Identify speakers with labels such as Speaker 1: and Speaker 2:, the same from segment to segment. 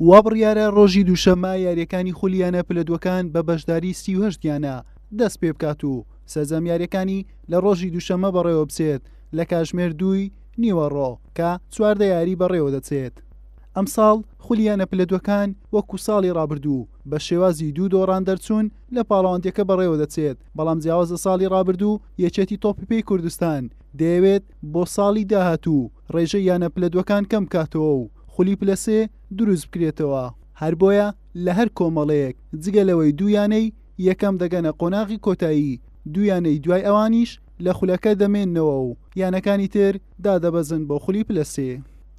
Speaker 1: وابڕیارە ڕۆژی دووشەممە یاریەکانی خولی یانە پلە دوەکان بە بەشداری سی و هەشت یانە دەست پێ بکات و سەرجەم یاریەکانی لە ڕۆژی دووشەممە بەڕێوە بچێت لە کاژمێر دووی نیوەڕۆ کە چواردە یاری بەڕێوە دەچێت ئەمساڵ خولیانە پلە دوەکان وەکو ساڵی ڕابردوو بە شێوازی دوو دۆڕان دەرچوون لە پاڵەوانندەکە بەڕێوە دەچێت بەڵام جیاوازە ساڵی ڕابردوو یەکێتی تۆپی پێی کوردستان دەیەوێت بۆ ساڵی داهاتوو ڕێژەی یانە پلە دوەکان کەم بکاتەوە و خولی پلە سێ دروست بکرێتەوە، هەر بۆیە لە هەر کۆمەڵەیەک جگە لەوەی دوو یانەی یەکەم دەگەنە قۆناغی کۆتایی، دوو یانەی دوای ئەوانیش لە خولەکە دەمێننەوە و یانەکانی تر دادەبەزن بۆ خولی پلە سێ.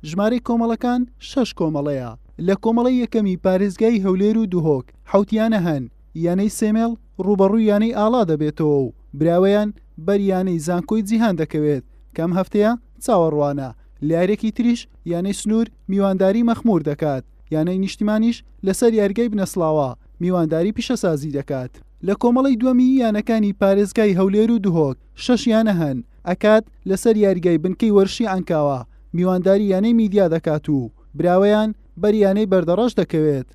Speaker 1: ژمارەی کۆمەڵەکان شەش کۆمەڵەیە، لە کۆمەڵەی یەکەمی پارێزگای هەولێر و دهۆک حەوت یانە هەن، یانەی سێمێڵ رووبەڕووی یانەی ئاڵا دەبێتەوە و براوەیان بەر یانەی زانکۆی جیهان دەکەوێت کە ئەم هەفتەیە چاوەڕوانە لە یارییەکی تریش یانەی سنوور میوانداری مەخموور دەکات یانەی نیشتیمانیش لەسەر یاریگای بنەسڵاوە میوانداری پیشەسازی دەکات. لە کۆمەڵەی دووەمی یانەکانی پارێزگای هەولێر و دهۆک شەش یانە هەن، ئەکاد لەسەر یاریگای بنکەی وەرشی عەنکاوە میوانداری یانەی میدیا دەکات و براوەیان بەر یانەی بەردەڕەش دەکەوێت.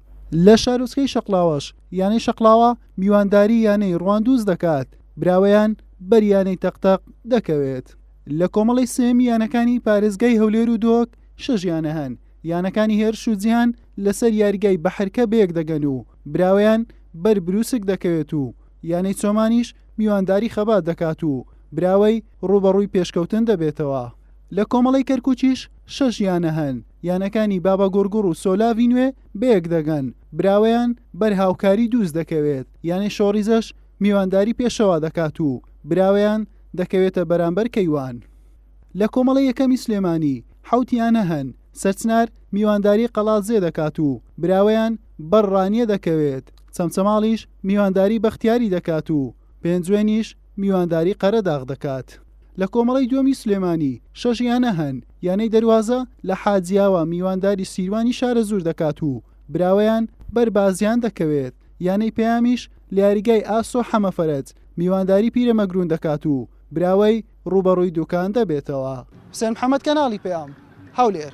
Speaker 1: لە شارۆچکەی شەقڵاوەش یانەی شەقڵاوە میوانداری یانەی ڕواندوز دەکات براوەیان بەر یانەی تەقتەق دەکەوێت لە کۆمەڵی سێمی یانەکانی پارێزگای هەولێر و دۆک شەش یانە هەن یانەکانی هێرش و جیهان لەسەر یاریگای بەحرکە بەیەک دەگەن و براوەیان بەر بروسک دەکەوێت و یانەی چۆمانیش میوانداری خەبات دەکات و براوەی ڕوبەڕووی پێشکەوتن دەبێتەوە لە کۆمەڵەی کەرکوکیش شەش یانە هەن، یانەکانی باباگوڕگوڕ و سۆلاڤی نوێ بەیەک دەگەن، براوەیان بەر هاوکاری دووز دەکەوێت، یانەی شۆڕیزەش میوانداری پێشەوا دەکات و براوەیان دەکەوێتە بەرامبەر کەیوان. لە کۆمەڵەی یەکەمی سلێمانی حەوت یانە هەن، سەرچنار میوانداری قەڵادزێ دەکات و براوەیان بەر ڕانیە دەکەوێت، چەمچەماڵیش میوانداری بەختیاری دەکات و پێنجوێنیش میوانداری قەرەداغ دەکات. لە کۆمەڵەی دووەمی سلێمانی شەش یانە هەن، یانەی دەروازە لە حاجیاوا میوانداری سیروانی شارەزوور دەکات و براوەیان بەر بازیان دەکەوێت، یانەی پەیامیش لە یاریگای ئاسۆ حەمەفەرەج میوانداری پیرەمەگروون دەکات و براوەی رووبەڕووی دوکان دەبێتەوە. حوسێن محەمەد، کەناڵی پەیام، هەولێر.